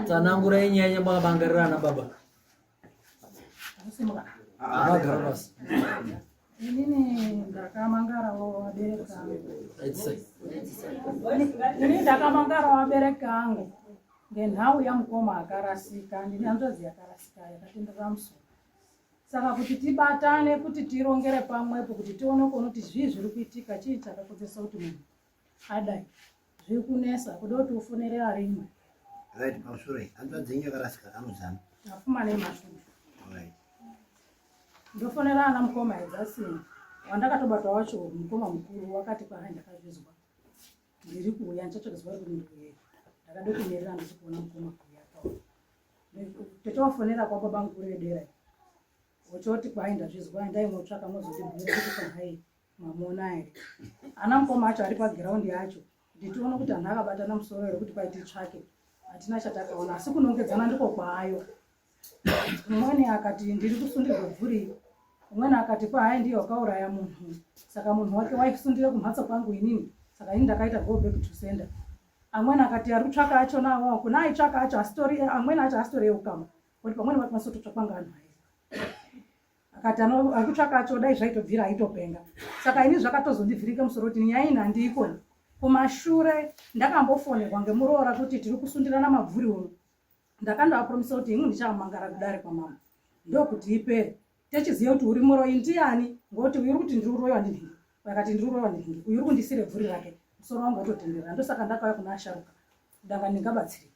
Tsanangurai nyaya yamakabangarira ana baba. Amagara basi. Inini ndakamangara wabereka angu. Inini ndakamangara wabereka angu. Ngenhau yamukoma akarasika, ndine hanzvadzi yakarasika yakatenderera musoro. Saka kuti tibatane kuti tirongere pamwepo kuti tione kuona kuti zvii zviri kuitika chii chakakodzesa kuti munhu adai zviri kunesa kuda kuti ufonere arimwe right pamusoro iyi hanzva dzenyu yakarasika kanozana afuma nemashudu right ndofonera ana mukoma edzasini wandakatobata wacho mukoma mukuru wakati kwaai ndakazvizwa ndiri kuuya ndichatsvakizwa ri kuti ndiuye ndakade kunyerera ndisi kuona mukoma kuuya pa totowafonera kwababa mukuru vedera ochoti kwaai ndazvizwa ndai motsvaka mozotibhuira kuti kwahai mamuona here ana mukoma acho ari pagiraundi yacho kuti tione kuti anhu akabatana musoro here kuti pai titsvake hatina chatakaona asi kunongedzana ndiko kwaayo umweni akati ndiri kusundirwa bvuri umweni akati kwahai ndiye wakauraya munhu saka munhu wake waisundire kumhatso kwangu inini saka ini ndakaita go back to sender amweni akati ari kutsvaka acho nawo kuna aitsvaka acho asitori amweni acho asitori eukama kuti pamweni vakwanisa kutotsvakwa ngaanhu aye akati arikutsvaka acho dai zvaitobvira aitopenga saka ini zvakatozondivhirika musoro kuti nyaya ini handiikoni kumashure ndakambofonerwa ngemuroora kuti tiri kusundirana mabvuri uno ndakandoapromisa kuti ini ndichamangara kudare kwamama ndokuti ipere techiziva kuti uri muroyi ndiani ngokuti uyu uri kuti ndiri uroyiwa ndinhingi akati ndiri uroyiwa ndinhingi uyu uri kundisire bvuri rake musoro wangu watotenderera ndosaka ndakauya kuna asharuka danga ndingabatsirika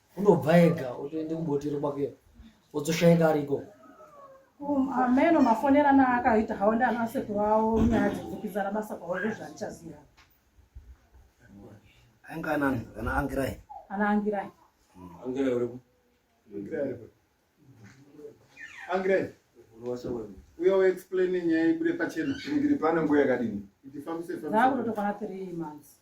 unobva ega otoende kubotero kwake odzoshaika ari ikoko um, ameno mafonerana akaita hawo ndi ana sekuru awo nyaya dzekudzikizana basa kwavo ndozvandichaziva ainge anani ana angirai ana angirai angirai uripo angirai uya uexplaine nyaya ibude pachena ndiri pano nguva yakadini ndifambise fambisa ndakutotokwana 3 months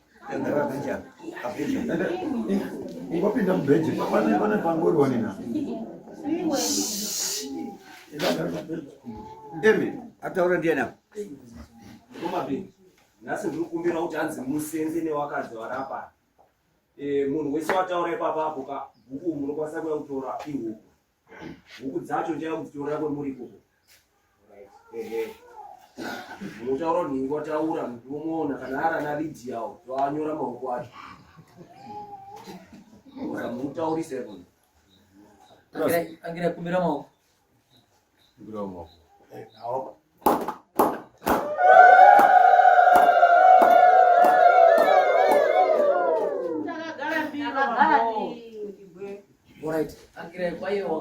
Ingopinda mubheji pane pane pangori wanina. Emi ataura ndiani apa? Komapi. Nhasi ndiri kukumbira kuti hanzi musenze newakadzi warapa. Eh munhu wese wataura ipapa apo ka bhuku munokwanisa kuya kutora ihuku. huku dzacho ndichada kudzitorera kwemuri ikoko munotaura kuti ningi wataura munomuona kana ari ana lidiyawo toanyora maoko acho mukamutaurise kona angira kumbira maoko kumbira maoko eh,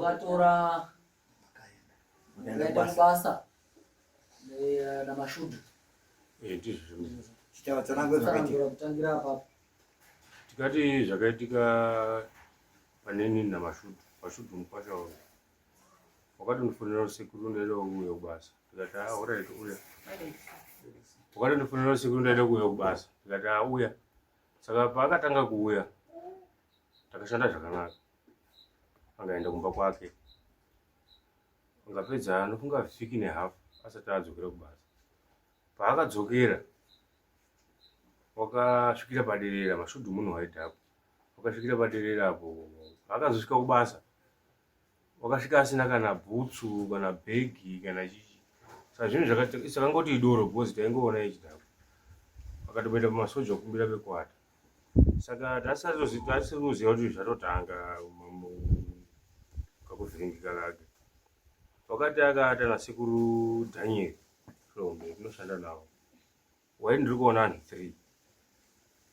wakatora basa eh, na mashudu eh, kutangira apapo tikati zvakaitika paneni na mashudu mashudu mukwasha wakatonifonera usiku ndoenda kuuya kubasa ndikati auraiti uya wakatonifonera usiku ndoenda kuuya kubasa ndikati auya saka paakatanga kuuya takashanda zvakanaka angaenda kumba kwake angapedza anofunga vhiki nehafu asati adzokera kubasa paakadzokera wakasvikira paderera mashudu munhu waidhapo wakasvikira paderera apo paakazosvika kubasa wakasvika asina kana bhutsu kana bhegi kana chichi saka zvinhu zvakangoti idoro because taingoona ichidhakwa akatoenda pamasoja okumbira pekuata saka tasiri kuziva kuti zvatotanga kakuvhiringika kake wakati akaata nasekuru daniel hlombe kunoshanda navo waini ndiri kuona anhu three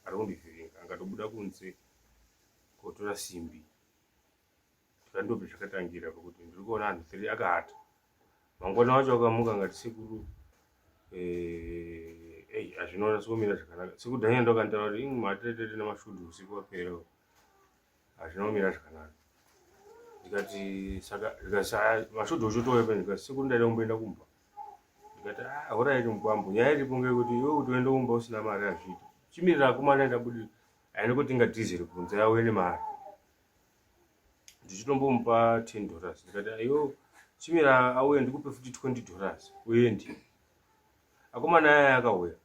ari kundivhiringa angatobuda kunze kotora simbi zvandobve zvakatangira pakuti ndiri kuona anhu three akaata mangwana wacho akamuka ngati sekuru eh, ei hazvinoona sikumira zvakanaka sekudhanya ndokantaura kuti ing matiretete nemashudu usiku wapera hazvina kumira zvakanaka ndikati saka ndikati mashudu uchitouya pene ndikati sekuru ndaida kumboenda kumba ndikati ah, horaiti mukwambo nyaya iripo ngekuti iwe kuti uende kumba usina mari hazviiti chimirira akomana ndabudirira aine kuti ingatizire kunze yauye nemari ndichitombomupa 10 dollars ndikati ayo chimira auya ndikupe futi 20 dollars uyendi akomana aya akauya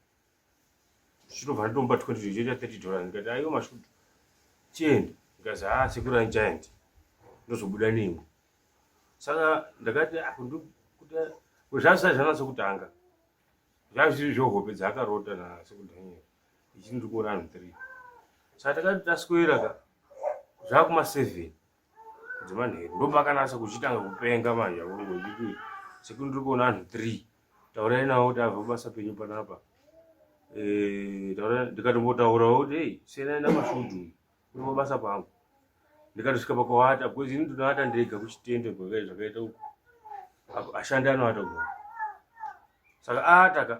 ndichitobva nditomupa 20 ndichitoita 30 dollars ndikati ayo mashudu chienda ndikazi haa ah, sekuru andichaendi ndozobuda nemwe saka ndakati ah, kuti zvazvisai zvanatsa kutanga Zvanga zviri zvohope dzaakarota nasekuru Daniel ichi ndiri kuona anhu three saka takati taswera ka zvakuma seven dzemanheru ndopakanasa kuchitanga kupenga manje akongo nditi sekuru ndiri kuona anhu three taurai navo kuti abva kubasa penyu panapa eh, ndikatombotaurawo kuti ei senai namashudu kuri mabasa kwangu ndikatosvika pakuvata bcause ini ndinovata ndega kuchitende gwakai zvakaita uku ashandi anovata ku saka aataka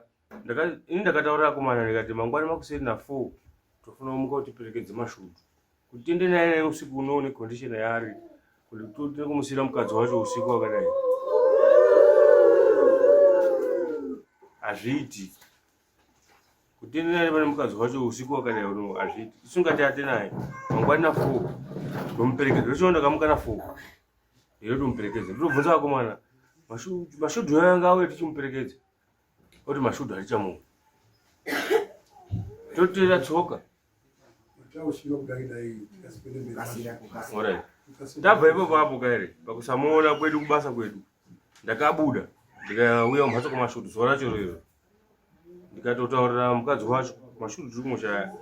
ini ndakataurira akomana ndikati mangwana makuseri na four tofuna umuka kuti perekedze mashudu kuti tende naye naye usiku uno une condition yaari kuti totine kumusira mukadzi wacho usiku wakadai hazviiti kutenderana nepane mukadzi wacho usiku wakadai uno hazviiti isungati ate naye mangwani na four ndomuperekedza ndochiona ndakamuka na four iro ndomuperekedza ndinobvunza vakomana mashudhu yanga auye tichimuperekedza oti mashudhu hatichamuka toteera tsoka ndabva ipo papo kaere pakusamuona kwedu kubasa kwedu ndakabuda ndikauya mumhatso kwamashudu zuva racho rero ndikatotaurira mukadzi wacho mashuru tiri kumushaya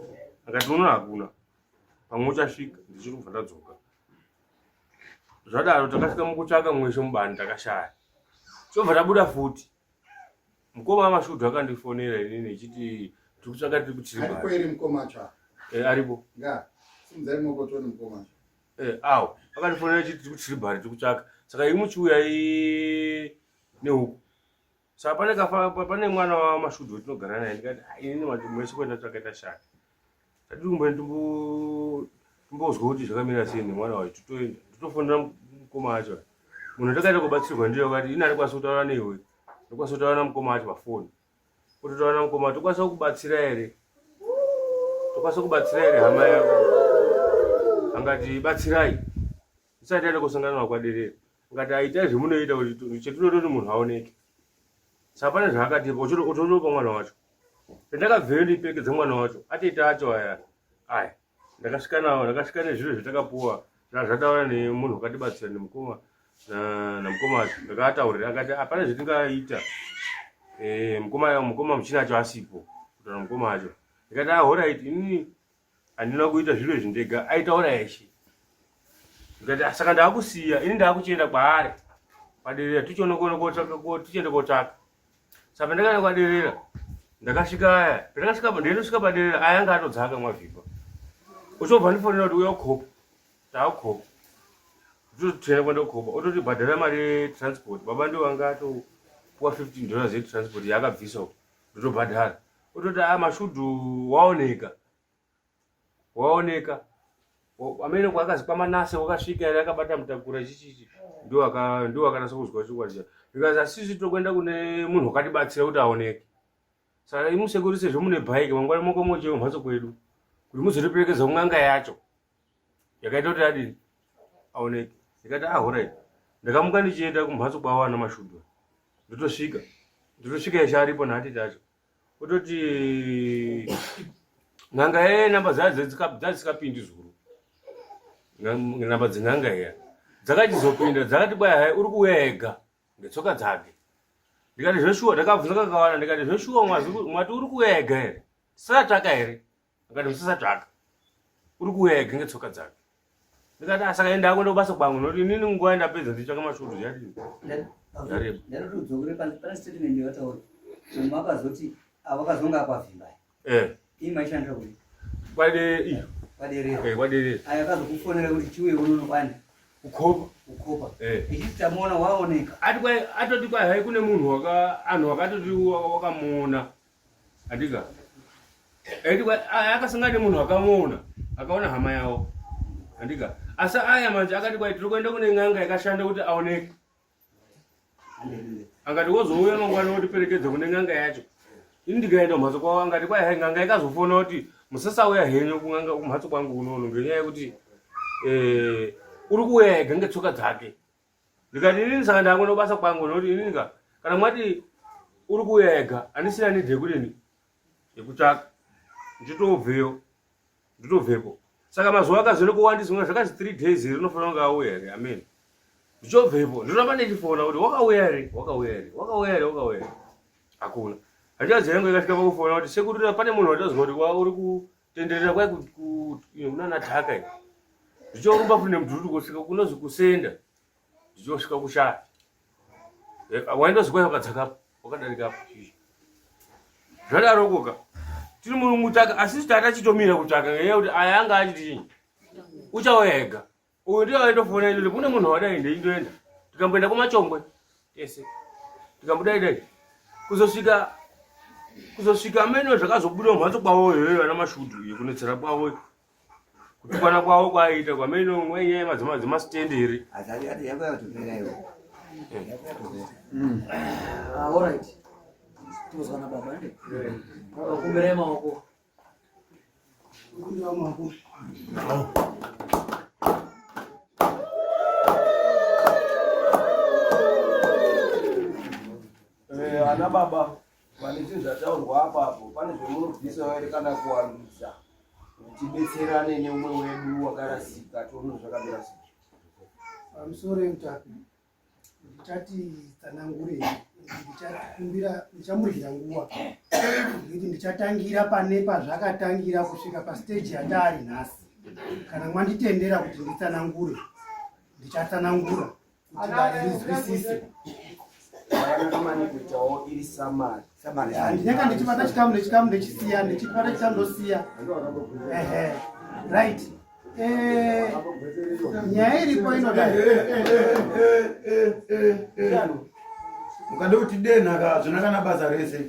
akati unoona hakuna pamwe uchasvika ndichiri kubva ndadzoka zvadaro takasvika mukutsvaka mweshe mubani takashaya tobva tabuda futi mukoma amashudhu akandifonera inini echiti tiri kutsvaka tiri kutiriaripo awo akandifonera echiti tiri kutiri bari tiri kutsvaka saka imuchiuya nehuku sa pane kafa pane mwana wamashudzi wetinogara naye ndikati ini mwese kwenda takaita shaka tadii kumbe ndimbozwa kuti zvakamira sei nemwana wacho titoenda nditofonera mukoma wacho munhu atakaita kubatsirwa ndiyo kati ini atikwanisa kutaura neiwe ndikwanisa kutaura namukoma wacho pafoni kutotaura namukoma wacho tokwanisa kukubatsira here tokwanisa kubatsira here hama yako angati batsirai isati yaenda kusangana nakwaderera ngati aitai zvemunoita kuti chetinoda kuti munhu aoneke saka pane zvaakatipa utotopa mwana wacho pendakabveyo ndipengedza mwana wacho atete acho aya aya ndakasvika nawo ndakasvika nezviro zvatakapuwa zvaa zvataura nemunhu wakatibatsira nemukoma namukoma acho ndakaataurira akati hapana zvetingaita eh, mukoma mukoma muchina acho asipo kutaura mukoma acho ndikati ahoraiti ah, inini handina kuita zviro izvi ndega aitaura yeshe ndikati ah, saka ndaakusiya ini ndaakuchienda kwaari kwaderera tichiona kuona kotsvaka tichienda kotsvaka saka pandakaenda kwaderera ndakasvika aya pandakasvika ndainosvika paderera aya anga atodzaka mwavhikwa uchobva ndifonera kuti uya ukhopa taakhopa totenda kwenda kukhopa ototi bhadhara mari yetransport baba ndiwo anga atopuwa fifteen dollars yetransport yaakabvisa uko ndotobhadhara ototi a ah, mashudhu waoneka waoneka amene kwakazi kwamanase wakasvika yari akabata mutakura chichichi ndo akanasa kuzwa chokwadi cha because asisi tokuenda kune munhu wakatibatsira kuti aoneke saka imusekurisi zvemune bhaiki mangwana moko mocheo mhatso kwedu kuti muzotiperekedza kun'anga yacho yakaita kuti adini aoneke ndikati ah horai ndakamuka ndichienda kumhatso kwavo ana mashudu ndotosvika ndotosvika yeshe aripo nhati tacho ototi n'anga ye namba dzadzikapindi zuru namba dzen'anga iya dzakachizopinda dzakati kwaya hai uri kuuya ega ndetsoka dzake ndikati zveshuwa ndakabvunza kakawana ndikati zveshuwa mwati uri kuuya ega here tisatsvaka here akati musasatsvaka uri kuuya ega ngetsoka dzake ndikati asaka ah, enda ako ndokubasa kwangu noti inini nguva ndapedza ndichitsvaka masvoto yarii atoti kwai kune munhu anhu wakatoti wakamuona Andika. Edi akasanga nemunhu akamuona, akaona hama yawo. Andika. Asi aya manje akati kwai tiri kuenda kune n'anga yakashanda kuti aoneke. Akati wozouya mangwana wotiperekedza kune n'anga yacho. Ini ndikaenda kumhatso kwavo angati kwai hai n'anga ikazofona kuti musasauya henyu kun'anga kumhatso kwangu unono ngenyaya yekuti eh, uri kuuya ega ngetsoka dzake. ndikati inini saka ndangona kubasa kwangu nokuti inini ka kana mwati uri kuuya ega andisina nidhi yekudini yekutsvaka nditobveyo nditobvepo saka mazuva akazere kuwandisa una zvakazi three days here unofanira kunge auya here amen ndichobvepo ndinoramba ndichifona kuti wakauya here wakauya here wakauya here wakauya here hakuna handichazi yangu ikasvika pakufona kuti sekurira pane munhu wataziva kuti wa uri ku tenderera kwai kunana dhaka i zvichorumba futi nemudhuri kusvika kunozi kusenda zvichosvika kushaya eh, waindozikwai wakadzakapo wakadarikapo zvadarokoka tiri murungu tsvaka asi tata chitomira kutsvaka ngenyaya kuti aya anga achiti uchauya ega Uyu ndiye aitofona ino kune munhu wadai ndeindoenda. Tikamboenda kumachongwe tese. Tikambuda idai. Kuzosvika kuzosvika amene zvakazobuda mumhatso kwavo iyoyo vana mashudu iyo kunetsera kwavo kutukana kwavo kwaiita kwamene mwenye madzima dzima stand iri Eh, ana baba pane zvinhu zvataurwa apa apo pane zvemunobvisa vaere kana kuwandudza tibetserane neumwe wedu wakarasika tione zvakambira sei amusore mutapi ndichati tsanangure ndichakumbira ndichamurira nguva nekuti ndichatangira pane pazvakatangira kusvika pasteji yataari nhasi kana mwanditendera kuti nditsanangure ndichatsanangura kuti vaizwisise ndinenge ndichibata chikamu nechikamu ndechisiya ndichibata chikamu ndosiya ehe right nyaya iripo inodai ukada kuti denha ka zvona kana basa rese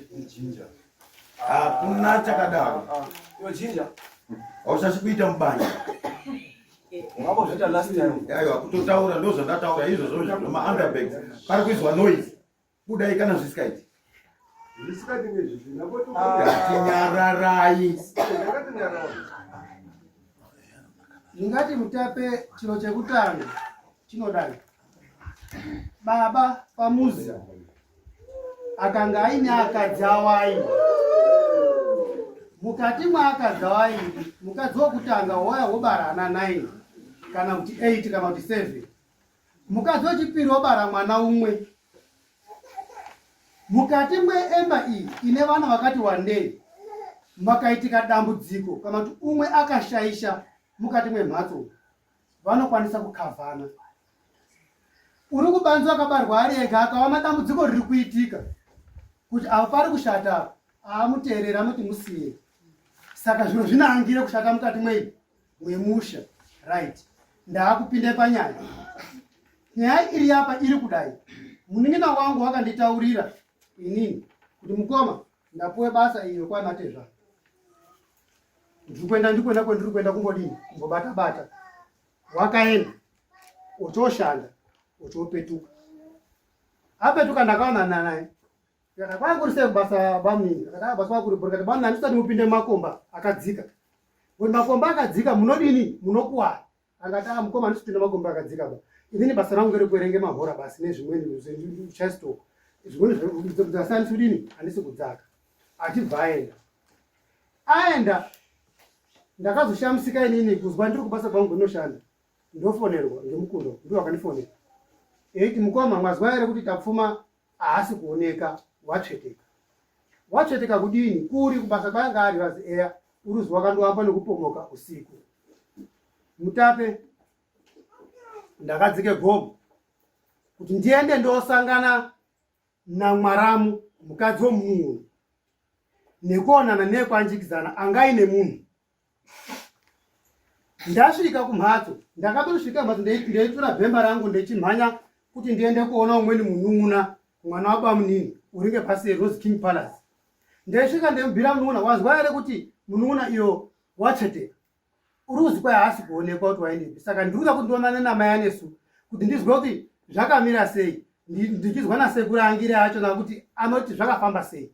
hakuna chakadaro hausasi kuita mubanja aiwa kutotaura ndozvandataura izvozvo zvemaunderbag pari kuizwa noise kudai kana zvisikaiti tinyararai ndingati mutape chiro chekutanga chinodai baba pamuzi akanga aine akadzi awaini mukati mwaakadzi awaini mukadzi wokutanga wouya wobara ana 9 kana kuti 8 kana kuti 7 Mukadzi wechipiri wabara mwana umwe. Mukati mweemba iyi ine vana vakati wandei makaitika dambudziko kana kuti umwe akashaisha mukati mwemhatso vanokwanisa kukavhana. Uri kubanzi akabarwa ari ega akaona dambudziko riri kuitika kuti avo pari kushata amuteerera anoti musiye. Saka zviro zvinoangire kushata mukati mwei wemusha right ndaakupinde panyaya nyaya iri yapa iri kudai munin'ina wangu wakanditaurira inini kuti mukoma ndapuwe basa iyo kwanatezva ndiri kuenda ndikwenda kwendiri kuenda kungodini kungobata bata wakaenda ochoshanda ochopetuka apetuka ndakaonana naye Kana kwanga kuri sei basa bamnini? Kana basa kwanga kuri bhora kati bamnini handisati mupinde mumakomba akadzika. Kuti makomba akadzika munodini? Munokuwara. Angati ah mukoma handisi kupinda makomba akadzika ba. Inini basa rangu ngerekuerenge mahora basi nezvimweni zvichastoka. Zvimweni zvakasiyana handisi kudini? Handisi kudzaka. Achibva aenda. Aenda ndakazoshamisika inini kuzwa ndiri kubasa kwangu kunoshanda ndofonerwa ngemukundo ndiwo akandifonera eiti mukoma mwazwa here kuti tapfuma haasi kuoneka watsveteka watsveteka kudini kuri kubasa kwayanga ari vazi eya uruzi wakandovamba nekupomoka usiku mutape ndakadzike gomo kuti ndiende ndosangana namwaramu mukadzi womunhu nekuonana nekwanjikidzana angaine munhu ndasvika kumhatso ndakatosvika mhatso ndeitura bhemba rangu ndechimhanya kuti ndiende kuona umweni munun'una mwana wabamunini uringe pasi rose king palace ndaisvika ndemubira munun'una wazwa here kuti munun'una iyo watsveteka uri kuzikwa yaasi kuonekwa kuti waendepi saka ndikuda kuti ndionane namai anesu kuti ndizwe kuti zvakamira sei ndichinzwa nasekuru angire acho nakuti anoti zvakafamba sei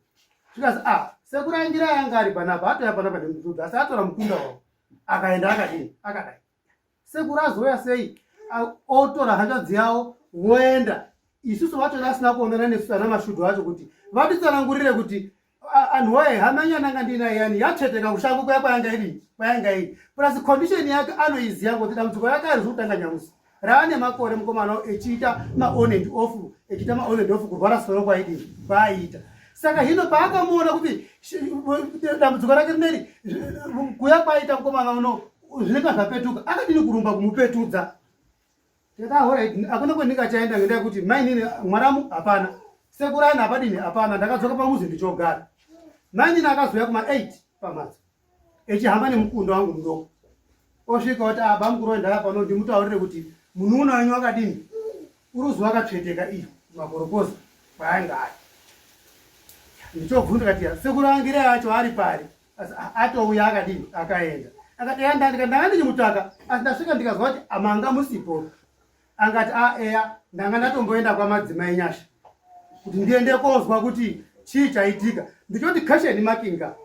zvikazi a ah, sekuru angire ayanga ari panapa atoya panapa nemudhudhu asi atora mukunda wavo akaenda akadini akadai sekuru azouya sei otora hanzvadzi yavo voenda isusu vacho vasina kuonana nesu ana mashudu acho kuti vatitsanangurire kuti anhu waye hama nyana anga ndina yani yatsveteka kushango kuya kwayanga iri kwayanga iri plus condition yake anoiziva kuti dambudziko yake ari zvekutanga nyamusi raane makore mukomana echiita maon and off echiita maon and off kurwara soro kwaidii kwaaiita saka hino paakamuona kuti dambudziko rake rineri kuya kwaaiita mukomana uno zvinenge zvapetuka akadini kurumba kumupetudza Ndikati ah, alright, hakuna kwendingachaenda ngendaa yekuti mainini mwaramu hapana, sekuru aina hapadini hapana. Ndakadzoka pamuzi ndichogara. Mainini akazouya kuma 8 pamhatso echihamba nemukundo wangu mudoko, osvika oti ah, bamukuru wendaya pano ndimutaurire kuti munun'una wenyu wakadini, uruzi wakatsveteka iyo makorokoza kwaanga ari. Ndichobvunza kati sekuru angire acho ari pari? asi atouya akadii akaenda akati eya ndandika ndanga ndichimutsvaka asi ndasvika ndikazwa kuti amanga musipo angati a eya ndanga ndatomboenda kwamadzimai nyasha kuti ndiende kozwa kuti chii chaitika ndichoti kasheni makinga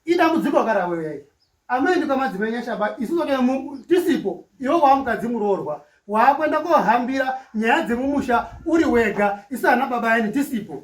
idambudziko karaweuyai amendi kwamadzimai nyasha ba isu zoke tisipo iwe waamukadzi muroorwa waakuenda kohambira nyaya dzemumusha uri wega isu ana baba yani tisipo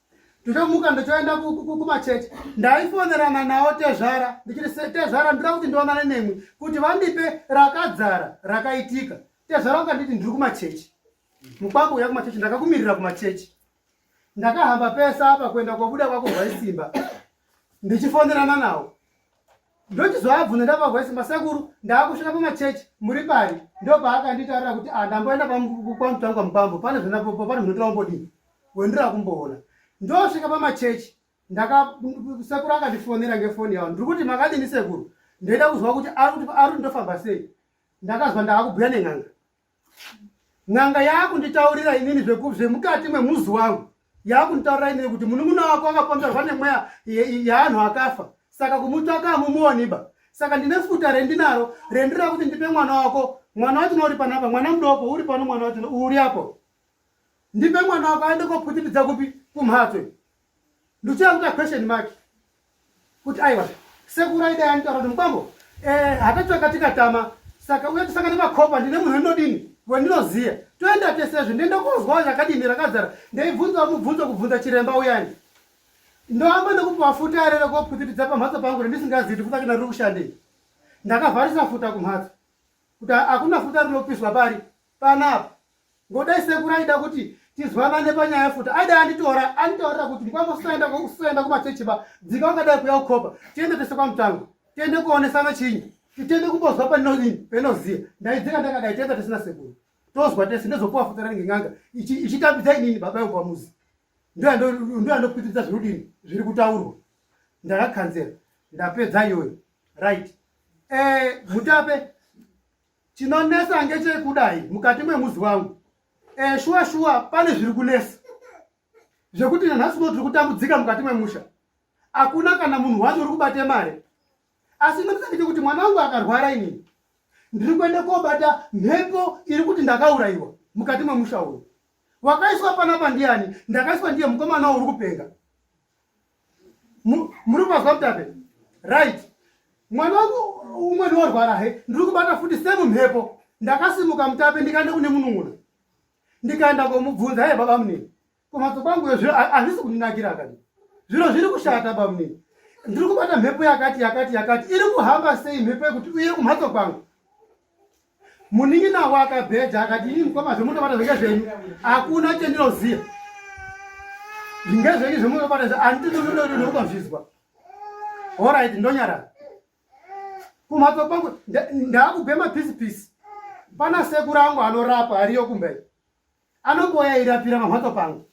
ndinomuka ndotoenda kumachechi ndaifonerana nawo tezvara ndichiri tezvara ndira kuti ndionane nemwi kuti vandipe rakadzara rakaitika tezvara vakanditi ndiri kumachechi mukwako uya kumachechi ndakakumirira kumachechi ndakahamba pese apa kuenda kwabuda kwako hwaisimba ndichifonerana nawo ndochizoabvunza ndapagwa isi masekuru ndaakusvika pamachechi muri pari ndopaakanditarira kuti ah, ndamboenda kwamutanga kwamukwambo pane zvinapopo pane zvinotora umbodii wendira kumboona ndosvika pamachechi ndakasekuru akandifonera ngefoni yavo ndiri kuti makadini sekuru ndoita kuzwa kuti ari kuti ndofamba sei ndakazwa ndaakubhuya nen'anga n'anga yaakunditaurira inini zvemukati mwemuzi wangu yaakunditaurira inini kuti munun'una wako akapomerwa nemweya yeanhu akafa saka kumutsvaka amumuoniba saka ndine futa rendinaro rendira kuti ndipe mwana wako mwana wacho nouri panapa mwana mudoko uri pano mwana wacho uri apo ndipe mwana wako aende koputipidza kupi kumhatso ndochera kuita question mark kuti aiwa sekuru aida yanitaura kuti mukwambo eh, hatatsvaka tikatama saka uye tisangane makopa ndine munhu wendodini wendinoziya toenda tesezvo ndienda kunzwawo zvakadini rakazara ndaibvunza mubvunzo kubvunza chiremba uyani ndoamba nekupiwa futa ere rekopwitipidza pamhatso pangu rendisingazivi kuti futa kina riri kushandei ndakavharisa futa kumhatso kuti hakuna futa rinopiswa pari panapa ngodai sekuru aida kuti tizwanane panyaya futi aida anditora anditaurira kuti ndikwanga usaenda usaenda kumachechi ba dzika ungadai kuya ukhopa tiende tese kwamutango tiende kuonesana chinyi titende kumbozwa panonini penoziya ndaidzika ndakadai tienda tesina sekuru tozwa tese ndozopuwa futi ranenge n'anga ichitambidza inini baba yangu pamuzi ndoyandopitiridza zvirudini zviri kutaurwa ndakakanzera ndapedza iyoyo right eh, mutape Chinonesa ngechekudai mukati mwemuzi wangu. Eh, shuwa shuwa pane zviri kunesa. Zvekuti nanhasi uno tiri kutambudzika mukati mwemusha. Hakuna kana munhu wacho uri kubate mari. Asi ndotisa kuti mwana wangu akarwara inini. Ndiri kuenda kobata mhepo iri kuti ndakaurayiwa mukati mwemusha uyu. Wakaiswa panapa ndiani? Ndakaiswa ndiye mukomana uri kupenga. muri kumazwa mutape right mwana wangu umwe ndiorwara he ndiri kubata futi semumhepo ndakasimuka mutape ndikaenda kune munun'una ndikaenda komubvunza hee baba munini kumhatso kwangu yo zviro hazvisi kundinakira kani zviro zviri kushata baba munini ndiri kubata mhepo yakati yakati yakati iri kuhamba sei mhepo yekuti uye kumhatso kwangu munin'ina wake abheja akati ini mukoma zvemunobata zvenge zvenyu hakuna chendinoziva zvinge zvenyu zvemunobata zve anditinonononokuba zvizwa orit ndonyarara kumhatso kwangu ndaakubhema pisipisi pana sekuru angu anorapa ariyo kumberi Anoboya airapira pamhatso pangu.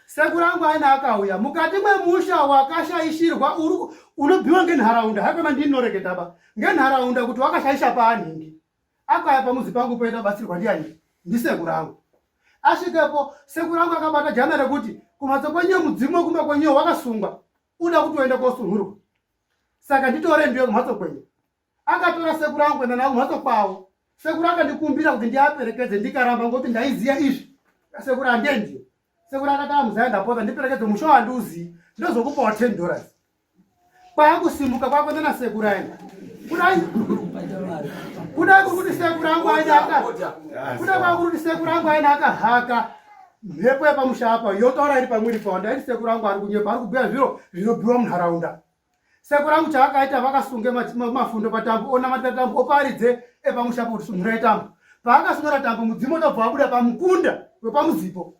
Sekuru angu aina akauya mukati mwemusha wakashaishirwa uri unobiwa ngenharaunda haikona ndinoreketaba ngenharaunda kuti wakashaisha paanhingi akaya pamuzi pangu poita batsirwa ndiani ndisekuru angu asvikepo sekuru angu akabata jana rekuti kumhatso kwenyu mudzimu wekumba kwenyu wakasungwa uda kuti uende kosunhurwa saka nditore ndiyo kumhatso kwenyu akatora sekuru angu kuenda navo mhatso kwavo sekuru akandikumbira kuti ndiaperekedze ndikaramba ngokuti ndaiziva izvi sekuru handiendi sekuru akataa muzaya ndapota ndiperekedze musho handiuzii ndozokupawo ten dollars kwaakusimuka kwakuenda nasekuru aenda kudai kudai kuri kuti sekuru angu aenda aka kudai kwakuri kuti sekuru angu aenda akahaka mhepo yepamusha apa yotaura iri pamwiri pawo ndaiti sekuru angu ari kunyepa ari kubhuya zviro zvinobiwa munharaunda seko rangu chaakaita vakasunge mafundo patambo onamatira tambo oparidze epamusha kuti sunhurai tambo paakasunura tambo mudzimu unobva wabuda pamukunda wepamuzipo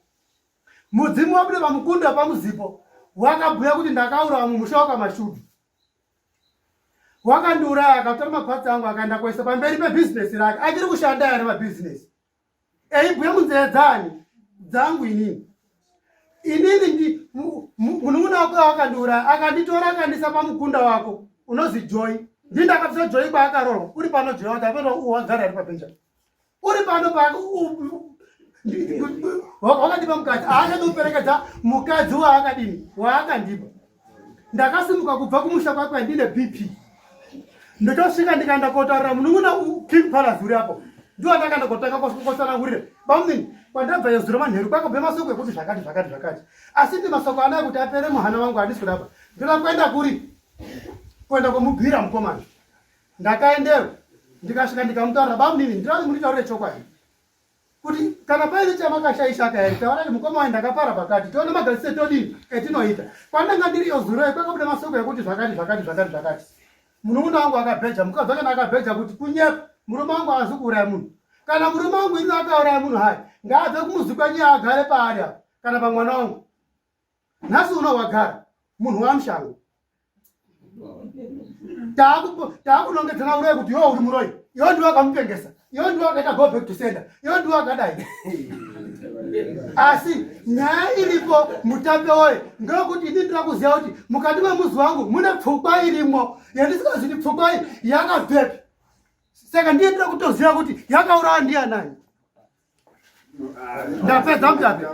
mudzimu wabuda pamukunda wepamuzipo wakabhuya kuti ndakaura vamwe musha wakamashudu wakandiuraya akatora mapatsi angu akaenda kwaisa pamberi pebhizinesi rake achiri kushanda yare mabhizinesi eibhuya munzira dzani dzangu inini inini ndi munun'una wako awakandiuraya akanditora akandisa pamukunda wako unozi joy ndi ndakabvisa joy kwaakarorwa uri pano joy wati apeno wagara ari pabenja uri pano pawakandipa mukadzi aachatoperekedza mukadzi waakadini waakandipa ndakasimuka kubva kumusha kwakwe ndine bp ndotosvika ndikaenda kotaurira munun'una king palace uri apo ndiwo ndakaenda kotanga kotsanangurira bamnini kwandabva yezuro manheru kwakabve masoko ekuti zvakati zvakati zvakati asi ndi masoko anaya kuti apere muhana wangu handisi kudaba ndoda kuenda kuri kuenda kwomubhira mukomana ndakaendero ndikasvika ndikamutaurira bamnini ndirazi munditaurire chokwadi kuti kana paine chamakashaisha akayari taura kuti mukoma waye ndakapara pakati tione magadzise todii etinoita kwandanga ndiri iyo zuro kwakabuda masoko ekuti zvakati zvakati zvakati zvakati munun'una wangu akabheja mukadzi wake naakabheja kuti kunyepa murume wangu haazi kuuraya munhu kana murume wangu ini akauraya munhu hayi ngaabve kumuzi kwenyu yaagare paari apo kana pamwana wangu nhasi uno wagara munhu wamushango taakunongedzana uroyi kuti iwo uri muroyi iwo ndiwo akamupengesa iwo ndiwo akaita go back to center iwo ndiwo akadai asi nyaya iripo mutape woye ndokuti ini ndira kuziva kuti mukati memuzi wangu mune pfukwa irimo yandisingazviti pfukwa iyi yakabvepi saka ndiye ndira kutoziva kuti yakaurawa ndiyanani ndapedza mtape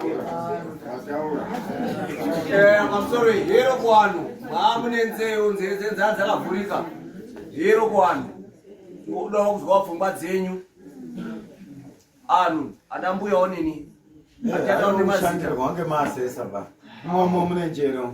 eh, mamsori hero kwanu maamune nzeu nzeve dzenzaa dzakavhurika hero kwanu ndikudawo kuzwawo pfungwa dzenyu anhu ana mbuya onini eh, atatawo nemazita wange maasesa ba mwomo mune njero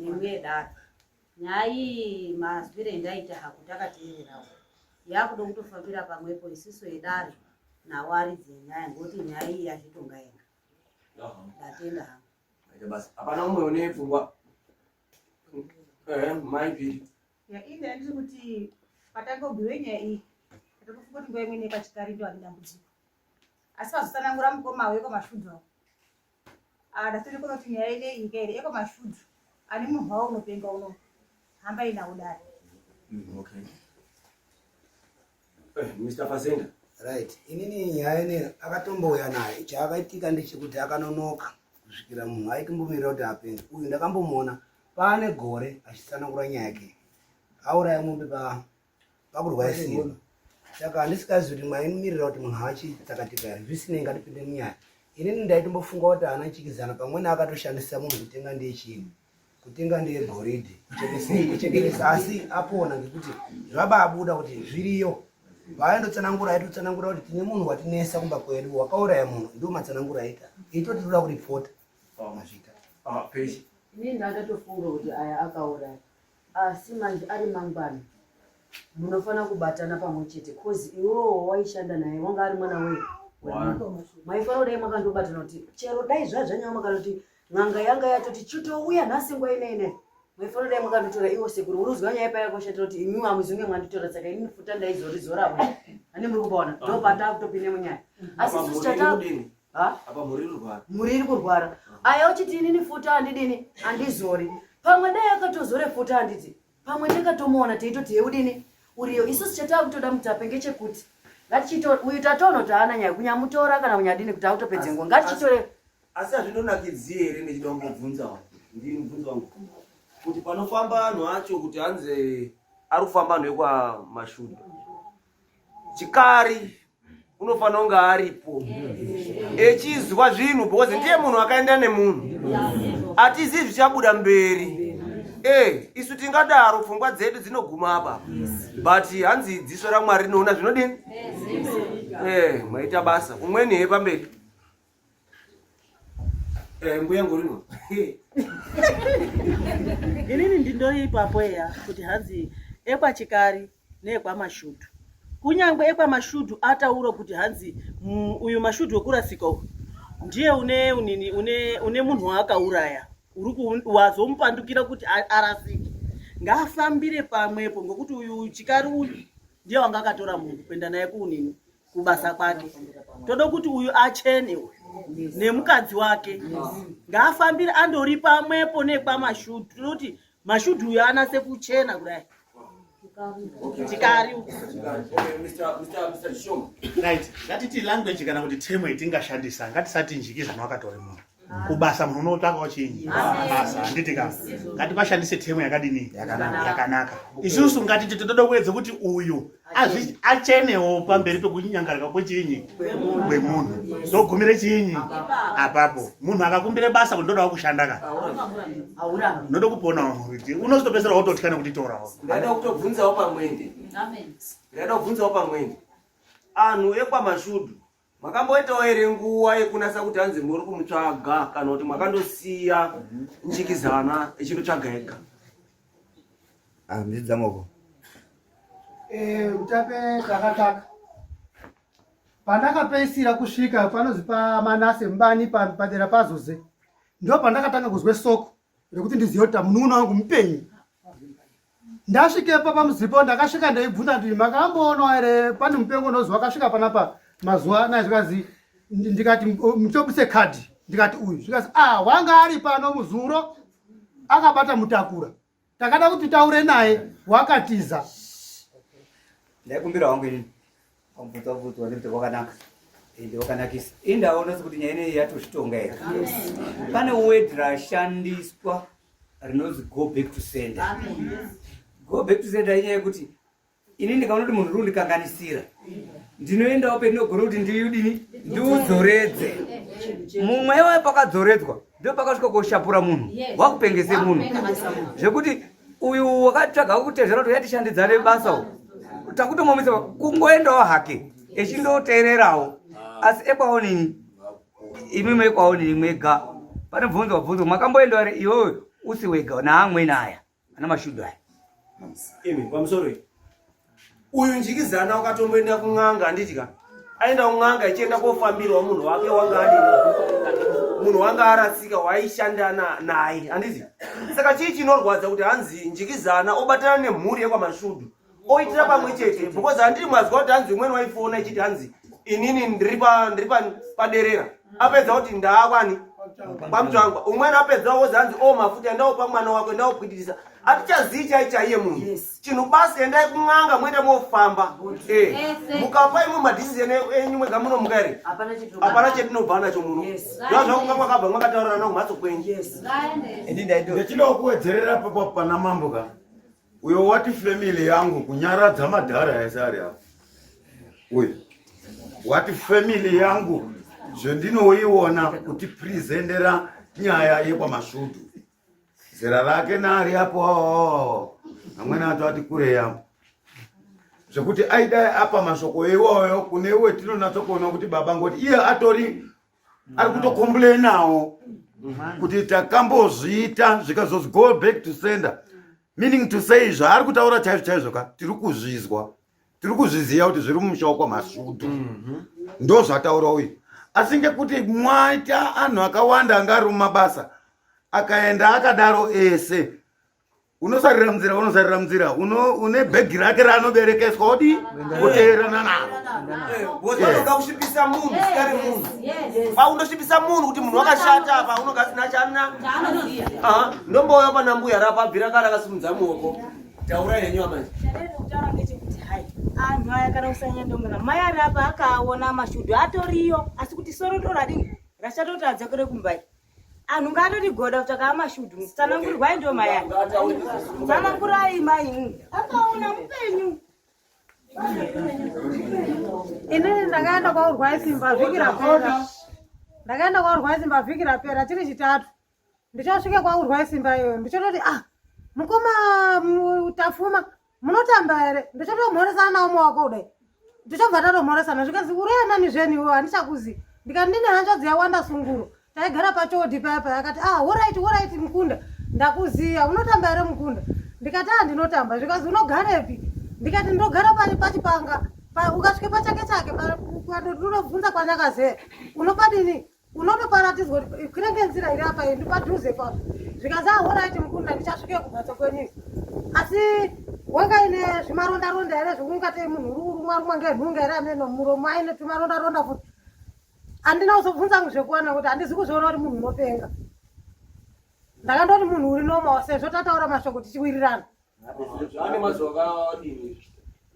nemuyedaro nyaya iyi mazwire endaita haku takateererawo yakuda kutofambira pamwepo isiso yedare nawo aridzi enyaya ngokuti nyaya iyi yazvitonga yega ndatenda hangu hapana umwe une pfungwa eh, maipiri Ya ini ndiri kuti patakobhuya nyaya iyi ndatokufunga kuti nguva imweni pachikari ndo ane dambudziko asi pazotsanangura mukoma awo ekwamashudhu awo ah, ndatonikona kuti nyaya ine iyi kairi ekwamashudhu ane munhu wawo unopenga uno hamba inawo dare mm, okay. eh, mr fasenda right inini nyaya ine akatombouya naye chaakaitika ndechekuti akanonoka kusvikira munhu aitombomirira kuti apenge uyu ndakambomuona paane gore achitsanangura nyaya yake auraya mombe pa pakurwaya simba saka handisikazi kuti mwaimimirira kuti munhu haachidzakatika here zvisinei ngatipinde munyaya inini ndaitombofunga kuti haana chikizana pamwene akatoshandisa munhu kutenga ndiye chinhu kutenga ndiye goridhe kuchekeresa asi apona ngekuti zvababuda kuti zviriyo vaendotsanangura aitotsanangura kuti tine munhu watinesa kumba kwedu wakauraya munhu ndio matsanangura aita itotitoda kuripota Ah, Ini ndatofunga kuti aya akauraya asi manje ari mangwana munofanira kubatana pamwe chete bcause iwewo waishanda naye wanga ari mwana wei maifanira kudai makandobatana kuti chero dai zvazvanyama kana kuti n'anga yanga yatoti chitouya nhasi nguva inene maifanira kudai makandotora iwo sekuru unozwa nyaya paya kwashatira kuti imiwo amuzunge mwanditora saka ini futa ndaizorizoravo ani muri kubaona ndopata kutopinde munyaya asi sisi chata apa mhuri irkurwara mhuri iri kurwara ah. aya uchiti inini futa handidini handizori pamwe dai akatozore futa handiti pamwe ndikatomuona teitoti heudini uriyo isusu chataa kutoda mutape ngechekuti ngatichito uyu tatono taana nyaya kunyamutora kana kunyadini kuti akutopedze ngo ngatichitore asi hazvindonakidzi here ndichida kungobvunza ndiri mubvunzo wangu kuti panofamba anhu acho kuti hanzi ari kufamba anhu ekwamashuda chikari unofanira kunge aripo echizwa zvinhu because ndiye munhu akaenda nemunhu atizivi zvichabuda mberi e isu tingadaro pfungwa dzedu dzinoguma apa but hanzi dziso ramwari rinoona zvinodini e maita basa umweni he pamberi Eh, mbuya ngorino inini ndindoipapo eya kuti hanzi ekwachikari neekwamashudu kunyange ekwamashudu ataura kuti hanzi mm, uyu mashudu wekurasika uyu ndiye une unini une une munhu waakauraya uri wazomupandukira kuti arasike ngaafambire pamwepo ngokuti uyu chikari uyu ndiye wanga akatora munhu kuenda naye kuunini kubasa kwake toda kuti uyu achene nemukadzi wake ngaafambire andori pamwepo nekwamashudhu toda kuti mashudhu uyo anase kuchena kudai chikari ngatiti language kana kuti temo itingashandisa ngatisatinjiki zvanhu akatori munhu kubasa munhu unotsvakawo chinyi basa handiti ka ngativashandise temu yakadini yakanaka isusu ngatiti toda kuedza kuti uyu achenewo pamberi pekunyangarika kwechinyi kwemunhu ndogumire chinyi apapo munhu akakumbire basa kuti ndodawo kushanda ka ndoda kuponawo muriti unozotopesera wototya nekuti torawo ndada kutobvunzawo pamwende ndada kubvunzawo pamwende anhu ekwamashudu makamboitawo here nguva yekunasa kuti hanzi muri kumutsvaga kana kuti makandosiya njikizana echinotsvaga ega handidzamoko eh, utape takataka pandakapeisira kusvika panozi pamanase mbani padera pazoze ndo pandakatanga kuzwe soko rekuti ndizive kuti munun'una wangu mupenyu ndasvikepa pamuzipo ndakasvika ndaibvunza kuti makamboonwa here pane mupengo unoziva akasvika panapa mazuva anaya zvikanzi ndikati mutobuse kadhi ndikati uyu zvikanzi a ah, wanga ari pano muzuro akabata mutakura takada kuti taure naye wakatiza ndaikumbira wangu inini Wabvutwa bvutwa nekuti wakanaka ende wakanakisa ende aona sekuti nyaya ineyi yatozvitonga here pane word rashandiswa rinonzi go back to sender go back to sender inyaya yekuti ini ndikaona kuti munhu rundikanganisira ndinoendawo pendinogona kuti ndiudini ndiudzoredze mumwe iwaye pakadzoredzwa ndopakasvika koshapura munhu wakupengese munhu zvekuti uyu wakatsvaga kutezvera kuti yatishandidzane basa u takutomomisa kungoendawo hake echindoteererawo asi ekwaonini imi mekwaonini mwega pane bvunzo wabvunzo makamboenda vari iwewe usi wega naamweni aya ana mashudu aya uyu njikizana ukatomboenda kun'anga anditya aenda kun'anga ichienda kofambirwa munhu wake wanga adi munhu wanga arasika waishanda naye andizi saka chii chinorwadza kuti hanzi njikizana obatana nemhuri yekwamashudu oitira pamwe chete because handiri mazwa kuti hanzi umweni waifona ichiti hanzi inini ndiri paderera apedza kuti ndaakwani pamutangwa umweni apedza wozi hanzi o oh, mafuta ndaopa mwana wako ndaopwitirisa atichazii chai chaiye munhu chinhu basi endai kun'anga moenda mofamba eh, mukapa imwe madhisision enyu mwega munomuka here hapana chetinobva nacho muno zva zvakunga kwakabva mwakataurirana kumhatso kwenyu ndinokuwedzerera papa pana mambo ka uyo wati family yangu kunyaradza madhara ese ari apo uyu wati family yangu zvendinoiona kuti prizendera nyaya yekwamasvudu zera rake naari apo amwene acho ati kurei apo zvekuti aidai apa mashoko iwoyo kune iwe tinonatsokuona kuti baba ngoti iye atori ari kutokombulenawo kuti takambozviita zvikazozgo back to sender meaning to say zvaari kutaura chaizvo chaizvo ka tiri kuzvizwa tiri kuzviziva kuti zviri mumusha wako masudu mhm. ndo zvataura uyu asi ngekuti mwaita anhu akawanda anga ari mumabasa akaenda akadaro ese unosarira munzira unosarira munzira une bhegi rake raanoberekeswa odi kuteerana naro unogakusvipisa munhu sikari munhu paundosvipisa munhu kuti munhu wakashata apa unogasina chana ndombouya panambuya rapabvira kara akasimudza muoko Taura henyu amai. Ndakutaura ngechekuti hai anhu aya kana kusanyandongera mai ari apa akaona mashudu atoriyo asi kuti soro toradini rachatoti adzokere kumbai anhu ngaatodigoda kutsvaka amashudu tsanangurirwai ndo mai aya tsanangurai mai akaona mupenyu inini ndakaenda kwaurwai simba vhiki rapera ndakaenda kwaurwai simba vhiki rapera chiri chitatu ndichasvika kwaurwa isimba iyoyo ndichototi ah mukoma tafuma munotamba here ndichotomhoresana nawo mawako kudai ndichobva tatomhoresana zvikanzi ureanani zveni iwewo handichakuzi ndikati ndine hanzvadzi yawanda sunguro taigara pachodi paya paya akati ah horaiti horaiti mukunda ndakuziva unotamba here mukunda ndikati ah ndinotamba zvikanzi unogarepi ndikati ndinogara pari pachipanga ukasvike pachake chake ukandoti unobvunza kwanyakazee unopadini unotoparatidzwa kuti kunenge nzira iri apa ndi padhuze papa zvikanzi ahoraiti mukunda ndichasvikeyo kumhatso kwenyu asi wanga ine zvimaronda ronda here zvekungatei munhu uri kurumwa rumwa ngenhunga here ameno muromo aine tumaronda ronda futi handina kuzobvunza ngu zvekuwana kuti handizi kuzviona kuti munhu unopenga ndakandoti munhu uri nomawa sezvo tataura mashoko tichiwirirana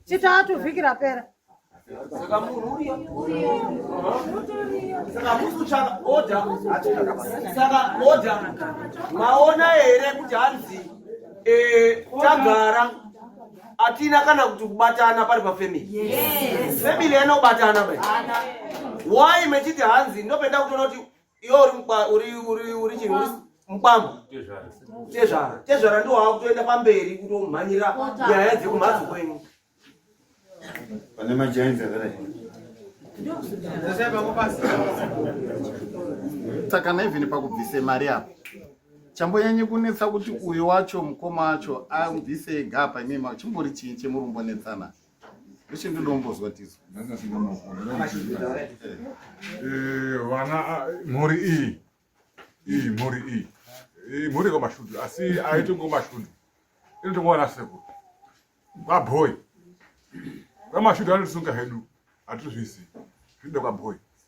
chitatu vhiki rapera saka munhu uriyo saka musi kutsvaka oda saka oda maona here kuti hanzi eh, tagara atina kana kuti kubatana pari pafamily family inobatana bai why mechiti hanzi ndopenda kutoona kuti iwe uri mukwa uri uri uri chii uri mukwambo tezvara tezvara ndiwo wakutoenda pamberi kutomhanyira nyaya dzekumhatso kwenyu pane majainzi akadai saka naivhini pakubvise mari apo chambonyanye kunetsa kuti uyu wacho mukoma wacho abvise ega apa imima chimbori chii chemurumbonetsana ah, Eshe ndinombozwa tizo. Eh, vana ah, mhuri iyi. Iyi mhuri iyi. Iyi mhuri kwa mashudu asi aito ngo mashudu. Inoto kuona seko. Kwa boy. Kwa mashudu anosunga hedu. Atuzvisi. Zvido kwa boy.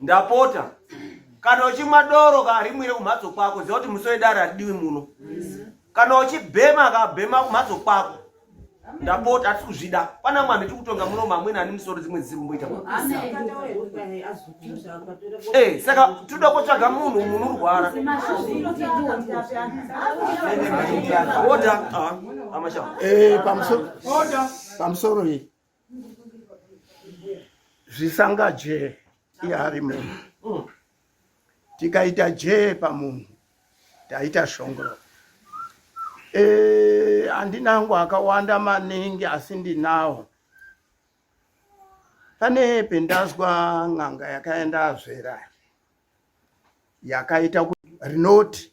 ndapota kana uchimwa doro ka rimwire kumhatso kwako ziva kuti musi wedare hatidiwi muno kana uchibhema ka bhema kumhatso kwako ndapota hatisi kuzvida pana mwana tiri kutonga muno mamwene ani musoro dzimwe dzisiri kumboita eh, saka tinoda kotsvaga munhu munhu urwara oda ah, amashaa eh, pamusoro iyi zvisangaje iari munhu mm. tikaita jee pamunhu taita shongoro eh, handinangu akawanda maningi asi ndinawo pane pendazwa n'anga yakaenda azvera yakaita rinoti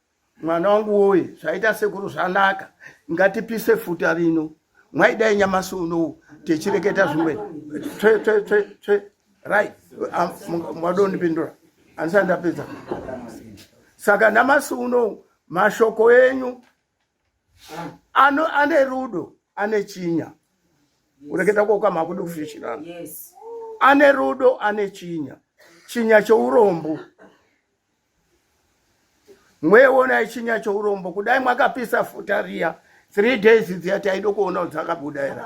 mwana wangu woye zvaita sekuru zvanaka ngatipise futa rino mwaidai nyamasi unou tichireketa zvimwe tsve tsve tsve tsve right mwadondipindura andisati ndapedza saka namasi unou mashoko enyu ano ane rudo ane chinya kureketa kwoko makudi kufishirana ane rudo ane chinya chinya chourombo yes. mweona ichinya chourombo kudai mwakapisa futa riya three days dziya taido kuona kuti dzakabuda here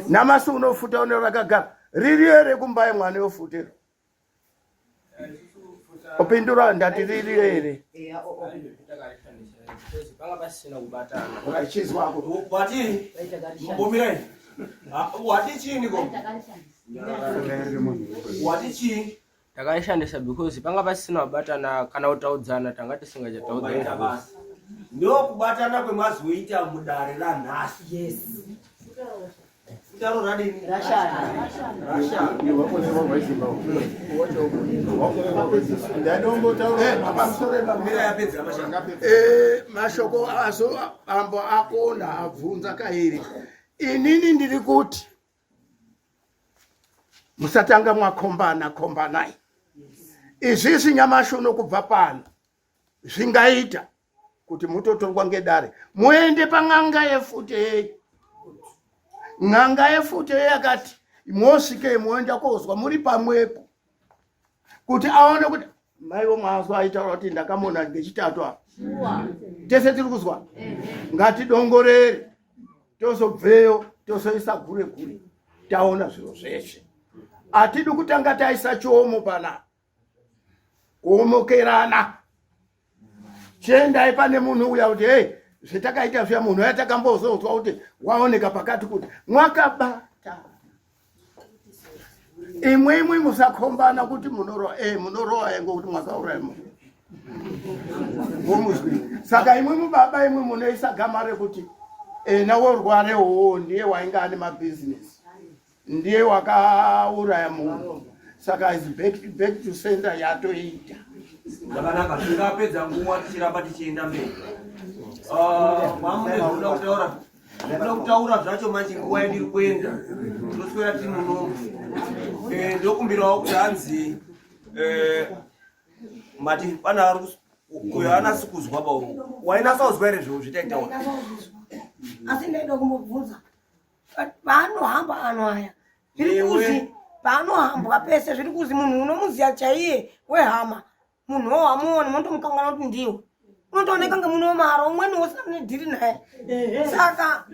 namasi unofuta une rakagara riri here kumba yemwana yofutero opindura ndati riri here wati chii takaishandisa because panga pasisina kubatana kana kutaudzana tanga tisingachataudzana ndokubatana kwemazoita mudare ranhasi yes mashoko azo ambo akona abvunza kairi inini ndiri kuti musatanga mwakombana kombanai izvizvi nyamashi uno kubva pano zvingaita kuti mutotorwa ngedare muende pan'anga yefute yeyi n'anga yefute yeyi akati mosvikei moenda kozwa muri pamwepo kuti aone kuti maiwo mazwa aitaura kuti ndakamona ngechitatu apa tese tiri kuzwa ngatidongorere tozobveyo tozoisa gure gure taona zviro zveshe hatidi kutanga taisa chiomo panapa kuomokerana chiendai pane munhu uya kuti hei zvetakaita zviya munhu uya takambozotswa kuti waoneka pakati kuti mwakabata imwe imwe musakhombana kuti munoroa e eh, munoroa yango kuti mwakauraya munhu womuzwi saka imwe mubaba imwe munoisa gama rekuti ena eh, worware hoo ndiye wainga ane mabhizinesi ndiye wakauraya munhu saka is back, back to center yatoita zvakanaka tingapedza nguva tichiramba tichienda mberi ah, mamune zvinoda kutaura zvinoda kutaura zvacho manje nguva yandiri kuenda tinoswera tiri munomu eh, ndokumbirawo kuti hanzi eh, mati pana ari uyo anasi kuzwa pa wainasa kuzwa here zvinhu zvitaitaura asi ndaida kumbobvunza paanohamba ano aya zviri kuzi paanohambwa pese zviri kuzi munhu unomuziva chaiye wehama munhu wo hamuoni motomukangana kuti ndiwo unotooneka nge munhu wemaro umweni wosina mune dhiri naye saka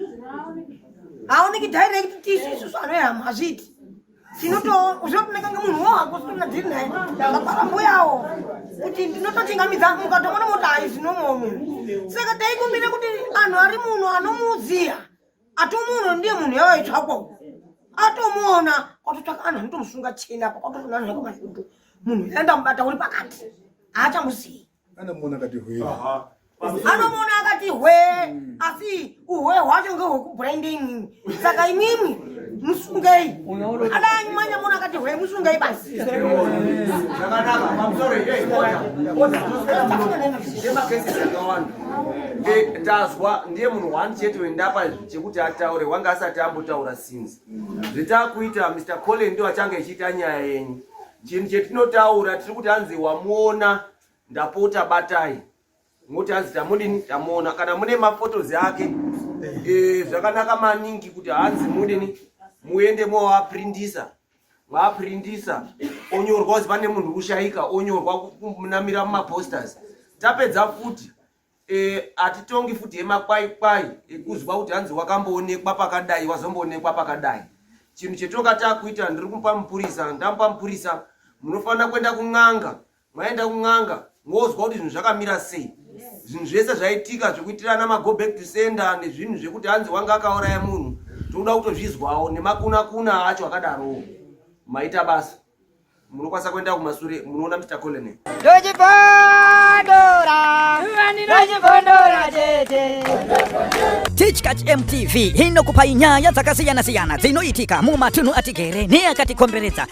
haoneki direct tisu isusu ano ehama hazviiti tinotooneka nge munhu wo hako usina mune dhiri naye apara mbuyawo kuti ndinototingamidza mukatomona moti haizinomomu saka taikumbire kuti anhu ari muno anomuziva atomuona ndiye munhu yavaitsvakwa uku atomuona kwatotsvaka anhu anotomusunga chena apa kwatotonanhaka mazutu munhu yaenda mubata uri pakati haachamuzivi anomuona akati hwee anomuona akati hwee hmm. asi uhwee hwacho ngehwekubhurende imimi saka imimi musungei adanyi manyamuona akati hwee musungei basi zvakanaka mamusoro Eh, tazwa ndiye munhu one chete wendapa chekuti ataure wanga asati ambotaura since zvitakuita mr collen ndo achange echiita nyaya yenyu chinhu chetinotaura tiri kuti hanzi wamuona ndapota batai moti hanzi tamudini tamuona kana mune mafotos ake eh, zvakanaka maningi kuti hanzi mudini muende moaprindisa vaprindisa onyorwa uzi pane munhu kushaika onyorwa kunamira mumaposters tapedza futi eh, hatitongi e, futi emakwaikwai ekuzwa kuti hanzi wakamboonekwa pakadai wazomboonekwa pakadai chinhu chetonga takuita ndiri kumupa mupurisa ndamupa mupurisa munofanira kuenda kun'anga mwaenda kun'anga mozwa kuti zvinhu zvakamira sei zvinhu zvese zvaitika zvekuitirana mago back to sender nezvinhu zvekuti hanzi wanga akauraya munhu tinoda kutozvizwawo nemakunakuna acho akadarowo maita basa munokwanisa kuenda kumasure munoona mr colonel tichkach mtv inokupai nyaya dzakasiyana-siyana dzinoitika mumatunhu atigere neakatikomberedza